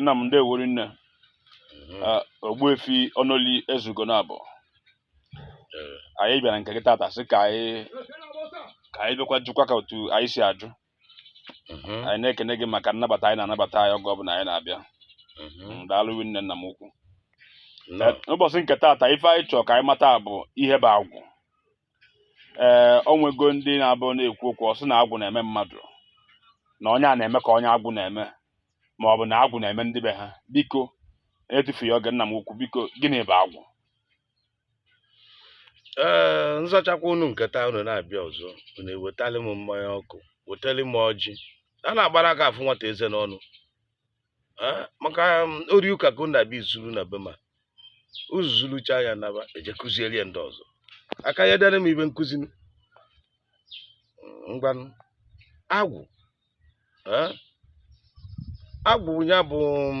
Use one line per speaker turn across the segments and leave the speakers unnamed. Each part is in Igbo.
nna m ndewo rinne mhm. ah, ogbuefi ọnụli ezeugo na abụ eh. anyị bịara nke gị tata sị ka anyị ka anyị bịakwa jụkwa ka otu anyị si ajụ mhm. anyị na-ekene gị maka nnabata anyị na-anabata anyị oge ọbụla anyị na-abịa mhm. mm, daalụ rinne nna m ukwu eh, ụbọchị nke tata ife anyị chọrọ ka anyị mata bụ ihe bụ agwụ ee eh, onwego ndị na-abụ na-ekwu okwu ọ sị na agwụ na-eme mmadụ na onye a na-eme ka onye agwụ na-eme ma ọ bụ na agwụ na-eme ndị be ha biko etufughị oge nna m ukwu biko gịnị bụ
agwụ ee eh, nzachakwa unu nke taa unu na-abịa ọzọ unu ewetali m mmanya ọkụ wetali m ọjị a na-agbara aka afụ nwata eze n'ọnụ Ah, maka um, ori ụka ka unu na-abịa izuru na be m unu zurucha ya naba eje kụziere ya ndị ọzọ aka ya dara m ibe nkụzi m. ngwanụ agwụ ah, agwụ ya bụ um,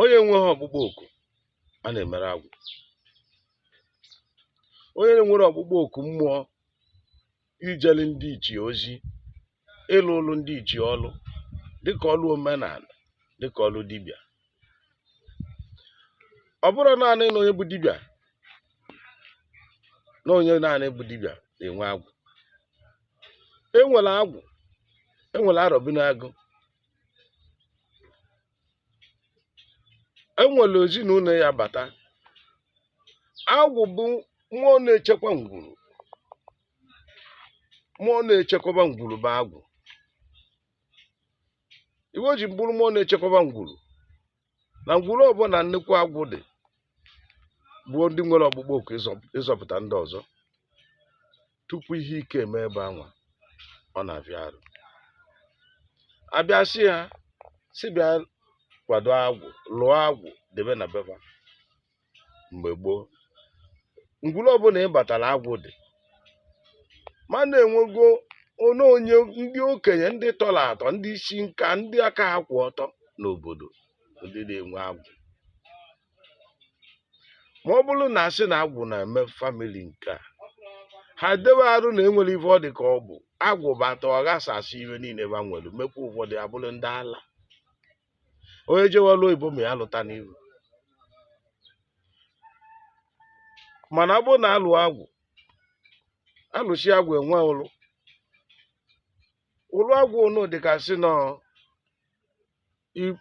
onye nweghị ọkpụkpọ oku a na-emere agwụ onye nwere ọkpụkpọ oku mmụọ ijere ndị ichie ozi ịlụlụ ndị ichie ọlụ dịka ọlụ omenala dịka ọlụ dibịa ọ bụrọ naanị na onye bụ dibịa na onye naanị bụ dibịa na-enwe agwụ enwere agwụ enwere arọbinagụ enwere ezinụlọ ya bata agwụ bụ mmụọ na-echekwa ngwuru mmụọ na-echekwaba ngwuru bụ agwụ ife o ji bụrụ mmụọ na-echekwaba ngwuru na ngwuru ọbụla nnukwu agwụ dị bụ ndị nwere ọkpụkpọ oku ịzọ- ịzọpụta ndị ọzọ tupu ihe ike eme ebe anwa ọ na-afịa arụ abịa sị ha si bịa kwado agwụ lụọ agwụ debe na be ba mgbe gboo ngwuru ọbụla ị batara agwụ dị mana enwego onye onye ndị okenye ndị tọrọ atọ ndị isi nka ndị aka ha kwụ ọtọ n'obodo ndị na-enwe agwụ ma ọ bụrụ na asị na agwụ na-eme famili nke a ha dewe arụ na enwere ife ọ dị ka ọ bụ agwụ bata ọ ghasasịa ife niile ba nwere mekwa ụfọdụ abụrụ ndị ala onye jewe ọrụ oyibo ma ya lụta n'iru mana ọ bụrụ na alụọ agwụ alụsịa agwụ enwe ụlụ ụlụ agwụ ọ na-adị ka asị na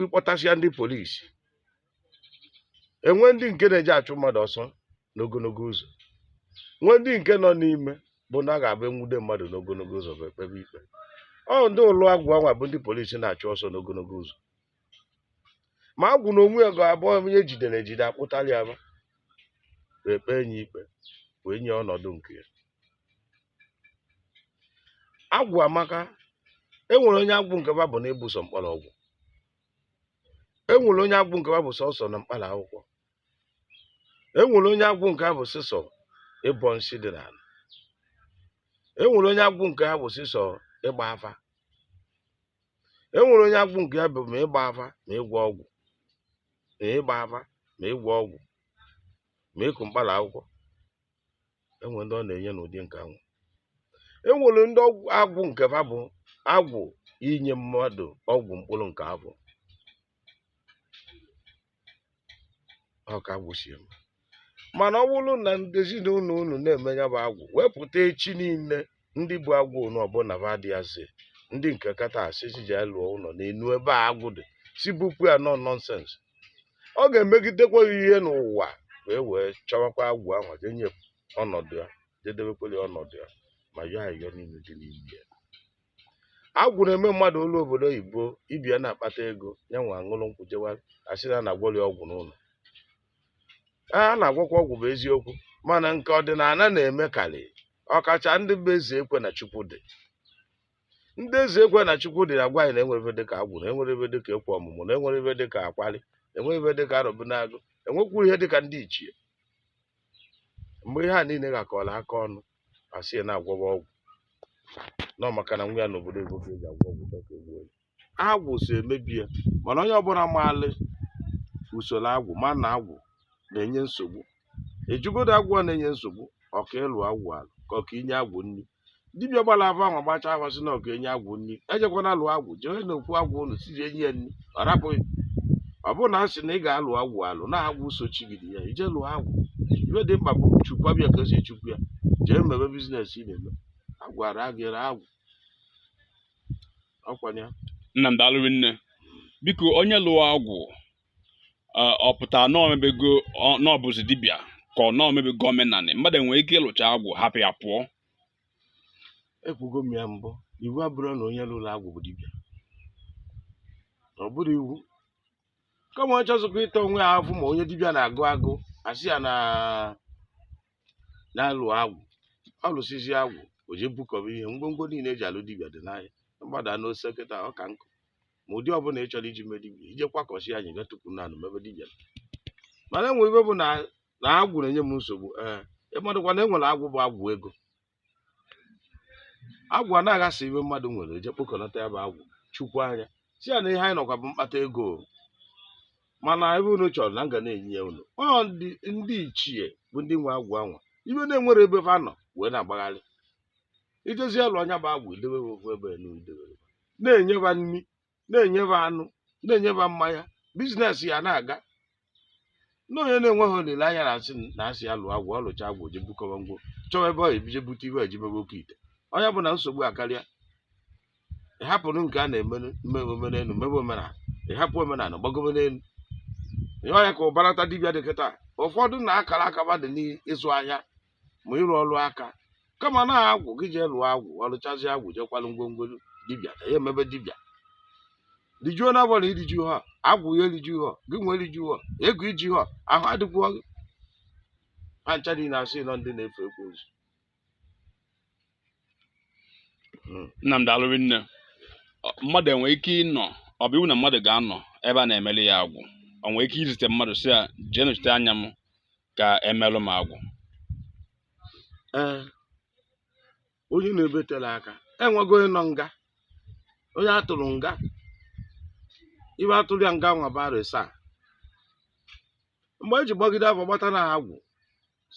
ịkpọtasịa ndị polisi enwe ndị nke na-eji achụ mmadụ ọsọ n'ogologo ụzọ nwee ndị nke nọ n'ime bụ na a ga-abụ enwude mmadụ n'ogologo ụzọ ba ekpebe ikpe ọ ndị ụlọ agwụ anwa bụ ndị polisi na-achụ ọsọ n'ogologo ụzọ ma agwụ na onwe ya ga-abụ onye ejidere ejide akpụtara ya ba ekpee ya ikpe wee nye ọnọdụ nke ya agwụ amaka e nwere onye agwụ nke ba bụ na ịbọ sọ mkpọrọgwụ e nwere onye agwụ nke ba bụ sọsọ na mkpara akwụkwọ e nwere onye agwụ nke ha bụ sịsọ ịbọ nsị dị n'ala e nwere onye agwụ nke ha bụ sịsọ ịgba afa e nwere onye agwụ nke ha bụ ma ịgba afa ma ịgwọ ọgwụ ma ịgba afa ma ịgwọ ọgwụ ma ịkụ mkpara akwụkwọ enwere ndị ọ na-enye n'ụdị nke anwụ enwere ndị agwụ nke fa bụ agwụ inye mmadụ ọgwụ mkpụrụ nke ahụ ọ ka agwụ si eme mana ọ bụrụ na ndị ezinụlọ unu na-eme ya bụ agwụ wepụta echi niile ndị bụ agwụ ụnụ ọbụla ba dị asị ndị nke kata asị si ji lụọ ụlọ n'enu ebe agwụ dị sị bupụ ya na ọ nọnsens ọ ga-emegidekwa ihe n'ụwa wee chọwakwa agwụ ahụ jee nye ọnọdụ ya jee debekwere ya ọnọdụ ya ma yọọ ayọ niile dị n'ime ya agwụ na-eme mmadụ o luo obodo oyibo ibe ya na-akpata ego ya nwe aṅụrụ nkwụ jewa asị na a na-agwọrọ ya ọgwụ n'ụlọ a na-agwọkwa ọgwụ bụ eziokwu mana nke ọdịnala na-eme karị ọkacha ndị bụ eze ekwe na chukwu dị ndị eze ekwe na chukwu dị na-agwa anyị na enwere ife dịka agwụ na enwere ife dịka ekwe ọmụmụ na enwere ife dịka akwari enwere ife dịka arọbinagụ enwekwuru ihe dịka ndị ichie mgbe ihe a niile gbakọrọ aka ọnụ asị ya na-agwọwa ọgwụ nọ maka na nwa ya n'obodo ego ka eji agwọ ọgwụ dọka egbuo ya agwụ so emebi ya mana onye ọbụla maalụ usoro agwụ ma na agwụ na-enye nsogbu ajụgodu agwụ a na-enye nsogbu ọ ka ịlụ agwụ alụ ka ọ ka inye agwụ nri dibịa gbara afa ahụ gbachaa afa sị na ọ ka inye agwụ nri ejekwana alụ agwụ jee n'okwu agwụ ụlọ sie nye ya nri ọ rapụ gị ọ bụrụ na a sị na ị ga-alụ agwụ alụ na agwụ sochigide ya i jee lụọ agwụ ibe dị mkpa bụ chekwaba ya ka esi echekwa ya jee mebe biznes ị na-eme agwara gị agwụ ọkwa ya nna m
daalụ rinne biko onye lụọ agwụ ọ pụtara na o mebego na ọ bụzi dibịa ka ọ na o mebego omenanị mmadụ enwere ike ịlụcha agwụ hapụ ya pụọ
ekwugo m ya mbụ iwu abụrọ na onye lụrụ agwụ bụ dibịa ọ bụrọ iwu kama ọ chọzikwa ịta onwe ya afụ ma onye dibịa na-agụ agụ asị ya na na-alụ agwụ ọ lụsịzi agwụ o je bukọba ihe ngwongwo niile eji alụ dibịa dị n'ahịa mgbada n'ose kịta ọ ka nkụ ma ụdị ọbụla ị chọrọ iji mee dibịa ije kwakọsi anyị ga tupu na anụ mebe dibịa mana enwe ife bụ na agwụ na-enye m nsogbu ee ịmadụkwa na enwere agwụ bụ agwụ ego agwụ a na-aghasa ife mmadụ nwere eje kpokọnata ya bụ agwụ chukwu anya sị ya na ihe anyị nọkwa bụ mkpata ego mana ebe unu chọrọ na m ga na-enye ya unu ọ ndị ndị ichie bụ ndị nwe agwụ anwa ife na enwere ebe fa nọ wee na-agbagharị i jezie lụa nya bụ agwụ idewe ha ofu ebe na idewere na-enye fa nri na-enye fa anụ na-enye fa mmanya biznes ya na-aga na onye na-enweghị olileanya na-asị na asị ya lụọ agwụ ọ lụcha agwụ je bukọwa ngwo chọwa ebe ọ ebije bute ife eji mebe oke ite ọ nya bụ na nsogbu akarịa ịhapụrụ nke a na-eme mmewe omenelu mebe omenala ịhapụ omenala gbagobe n'elu ihe ọ nya ka ụbarata dibịa dị kịta ụfọdụ na akara aka fa dị n'ịzụ ahịa ma ịrụ ọrụ aka kama na agwụ gị jee lụọ agwụ ọlụchazi agwụ jekwalụ ngwongwo dibịa na ya emebe dibịa rijuo na bọla iriju ha agwụ ya eriju ha gị nwee eriju ha ego iji ha ahụ adịkwuo gị ha ncha niile asị na ọ ndị na-efe ekwensu
hmm. Nnamdi alụrị nne mmadụ enwe ike ịnọ ọ bụ iwu na mmadụ ga-anọ ebe a na-emeli ya agwụ o nwere ike izite mmadụ sị ya jee nọchite anya m ka emelụ m agwụ
ee onye nọ ebe tele aka enwego onye nọ nga onye atụrụ nga ife atụrụ ya nga nwa bara saa mgbe eji gbagide afa gbata na agwụ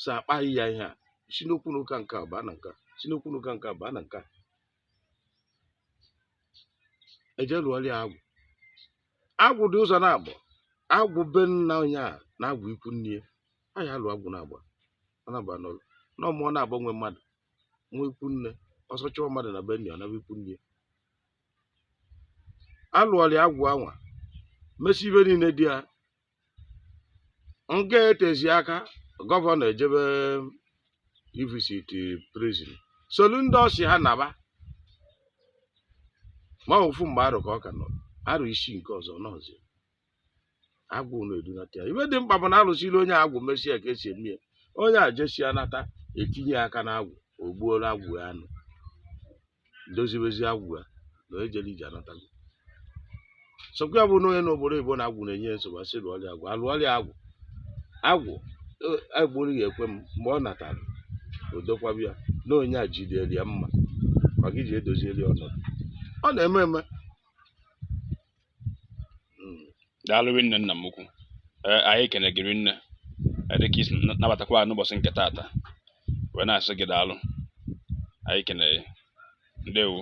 so akpalị ya ihe a si n'okwu n'ụka nke a baa na nke a si n'okwu n'ụka nke a baa na nke a eje lụọlị ya agwụ agwụ dị ụzọ naabọ agwụ be nna onye a na agwụ ikwu nne ya a ya-alụ agwụ naabọ ọ na-agba n'ụlọ na ọ mụọ naabọ nwe mmadụ nwa ikwu nne ọsọ chụọ mmadụ na be nna ya ọ naba ikwu nne ya alụọlị agwụ anwa mesi ife niile dị ya nga etezi aka gọvanọ ejebe ivisit prison solu ndị ọ sị ha naba ma ofu mgbe arọ ka ọ ka nọ arọ isii nke ọzọ nọzi agwụ unu edunata ya ife dị mkpa bụ na alụsịlị onye agwụ mesia ka esi eme ya onye a jesia nata etinye aka n'agwụ o gbuolụ agwụ ya anụ dozibezi agwụ ya na onye jere ije anatago so ọkwa ya bụ na onye nọ obodo oyibo na agwụ na-enye ya nsogbu asị lụọrị ya agwụ alụọrị ya agwụ agwụ e- agbụrụ ya ekwe m mgbe ọ natara o dokwaba ya na onye a jidere ya mma maka iji edozieli ọnọdụ ọ na-eme eme
hmm. daalụ rinne nna m ukwu eh, anyị ekene gị rinne eh, dịka i si nabatakwa anyị n'ụbọchị nke taata wee na-asị gị daalụ anyị kene ndewo